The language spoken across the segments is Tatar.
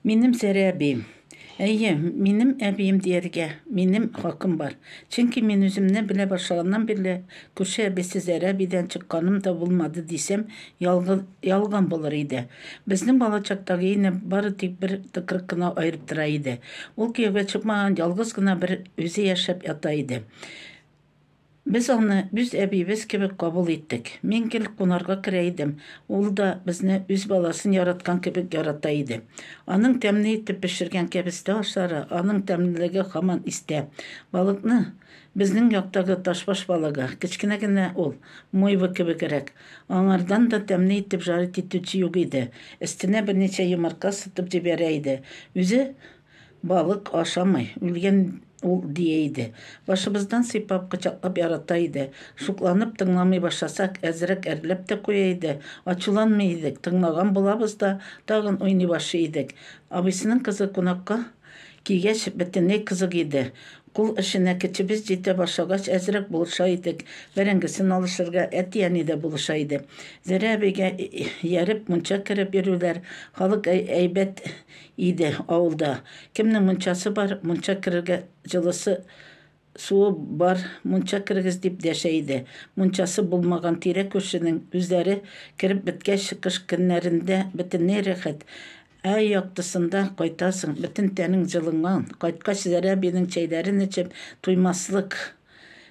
Минем Сәрә әбием. Әйе, минем әбием дияргә минем хакым бар. Чөнки мин үземне белә башлаганнан бирле күрше әбисе Зәрә әбидән чыкканым да булмады дисәм, ялгыз, ялган булыр иде. Безнең балачактагы өйне бары тик бер тыкрык кына аерып тора иде. Ул кияүгә чыкмаган, ялгыз гына бер үзе яшәп ята иде. Без аны үз әбиебез кебек кабул иттек. Мин гел кунарга керә идем, ул да безне үз баласын яраткан кебек ярата иде. Аның тәмле итеп пешергән кәбестә ашлары, аның тәмлелеге һаман истә. Балыкны, безнең яктагы ташбаш балыгы, кечкенә генә ул, мойва кебегрәк, аңардан да тәмле итеп жарить итүче юк иде, өстенә берничә йомырка сытып җибәрә иде, үзе Балык ашамый, үлгән ул, дия иде. Башыбыздан сыйпап, кочаклап ярата иде. Шукланып тыңламый башласак, әзрәк әрләп тә куя иде. Ачуланмый идек, тыңлаган булабыз да, тагын уйный башлый идек. Абыйсының кызы кунакка килгәч, бөтенләй кызык иде. Кул эшенә көчебез җитә башлагач, әзрәк булыша идек, бәрәңгесен алышырга әти-әни дә булыша иде. Зәрә әбигә ияреп, мунча кереп йөрүләр, халык әйбәт Иде, авылда. Кемнең мунчасы бар, мунча керергә, җылысы, суы бар, мунча керегез, дип дәшә иде. Мунчасы булмаган тирә-күршенең үзләре кереп беткәч, кыш көннәрендә бөтенләй рәхәт. Ә яктысында кайтасың, бөтен тәнең җылынган. Кайткач, Зәрә абыйның чәйләрен эчеп туймаслык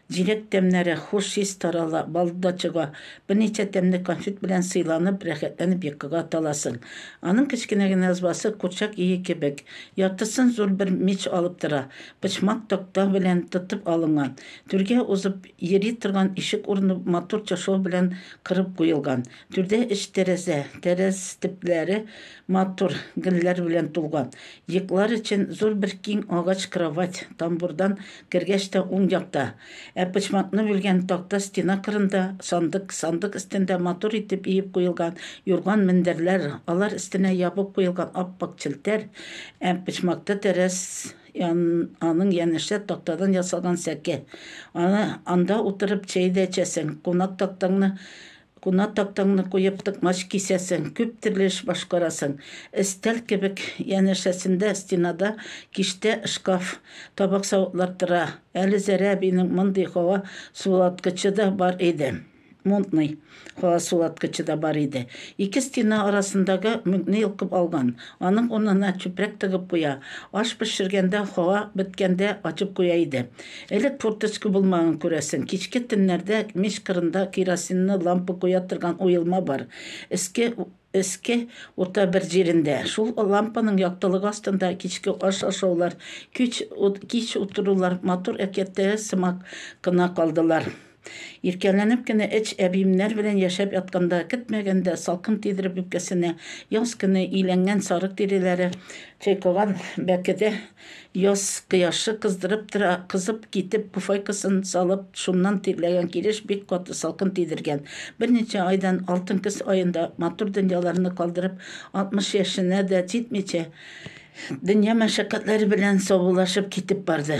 Җиләк тәмнәре, хуш ис тарала, бал да чыга. Берничә тәмле конфет белән сыйланып, рәхәтләнеп йокыга таласың. Аның кечкенә генә ызбасы курчак ие кебек. Яртысын зур бер мич алып тора. Почмак такта белән тотып алынган. Түргә узып йөри торган ишек урыны матур чыршау белән кырып куелган. Түрдә өч тәрәзә, тәрәз төпләре матур гөлләр белән тулган. Йоклар өчен зур бер киң агач кровать, тамбурдан кергәч тә уң якта. Ә почмакны бүлгән такта стена кырында сандык, сандык өстендә матур итеп иеп куелган юрган-мендәрләр, алар өстенә ябып куелган ап-ак челтәр, ә почмакта тәрәз ян, аның янәшә тактадан ясалган сәке. Аны, анда утырып чәй дә эчәсең, кунак тактаңны Кунак тактаңны куеп токмач кисәсең, күп төрле эш башкарасың. Өстәл кебек янәшәсендә стенада киштә шкаф, табак-савытлар тора. Әле Зәрә әбинең мондый һава суыткычы да бар иде. Мунтный һава суыткычы да бар иде. Ике стена арасындагы мүкне йолкып алган. Аның урынына чүпрәк тыгып куя. Аш пешергәндә һава беткәндә ачып куя иде. Элек форточка булмаган, күрәсең. Кичке төннәрдә мич кырында керосинны лампа куя торган уелма бар, өске өске урта бер җирендә. Шул лампаның яктылыгы астында кичке аш ашаулар, кич кич утырулар матур әкияттәге сымак кына калдылар. Иркәләнеп кенә эч, әбиемнәр белән яшәп ятканда, көтмәгәндә, салкын тидереп үпкәсенә, яз көне иләнгән сарык тиреләре, чайкаган бәкедә яз кояшы кыздырып тора, кызып китеп, пуфайкасын салып, шуннан тирләгән килеш бик каты салкын тидергән. Берничә айдан, алтын көз аенда, матур дөньяларны калдырып, 60 яшенә дә җитмичә, дөнья мәшәкатьләре белән саубуллашып китеп барды.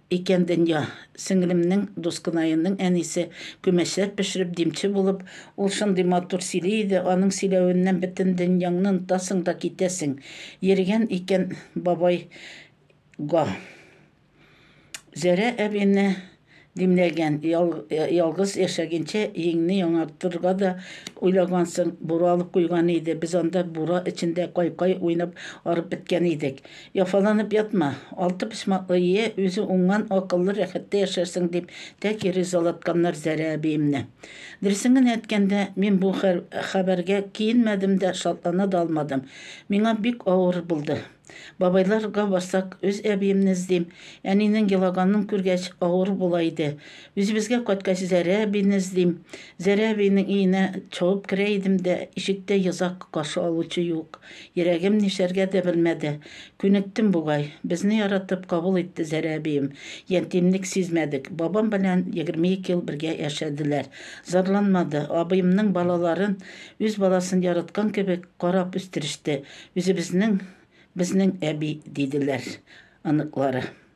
Икән дөнья. Сеңлемнең, Дускынаемның әнисе, күмәчләр пешереп димче булып, ул шундый матур сөйли иде, аның сөйләвеннән бөтен дөньяңны онытасың да китәсең. Йөргән икән бабай га. Зәрә әбине димләгән, ялгыз яшәгенчә йиңне яңартырга да уйлагансың, бура алып куйган иде, без анда бура эчендә кай-кай уйнап арып беткән идек. Яфаланып ятма. Алты почмаклы Е, үзе уңган, акыллы, рәхәттә яшәрсең, дип тәки ризалатканнар Зәрә әбиемне. Дөресен генә әйткәндә, мин бу хәбәргә киенмәдем дә, шатлана да алмадым. Миңа бик авыр булды. Бабайларга барсак, үз әбиемне эзлим. Әнинең елаганын күргәч, авыр була иде. Үзебезгә кайткач, Зәрә әбине эзлим. Зәрә әбинең өенә шуып керә идем дә, ишектә йозак, каршы алучы юк. Йөрәгем нишләргә дә белмәде. Күнектем бугай. Безне яратып кабул итте Зәрә әбием. Ятимлек сизмәдек. Бабам белән егерме ике ел бергә яшәделәр. Зарланмады. Абыемның балаларын үз баласын яраткан кебек карап үстереште. Үзебезнең, безнең әби, диделәр оныклары.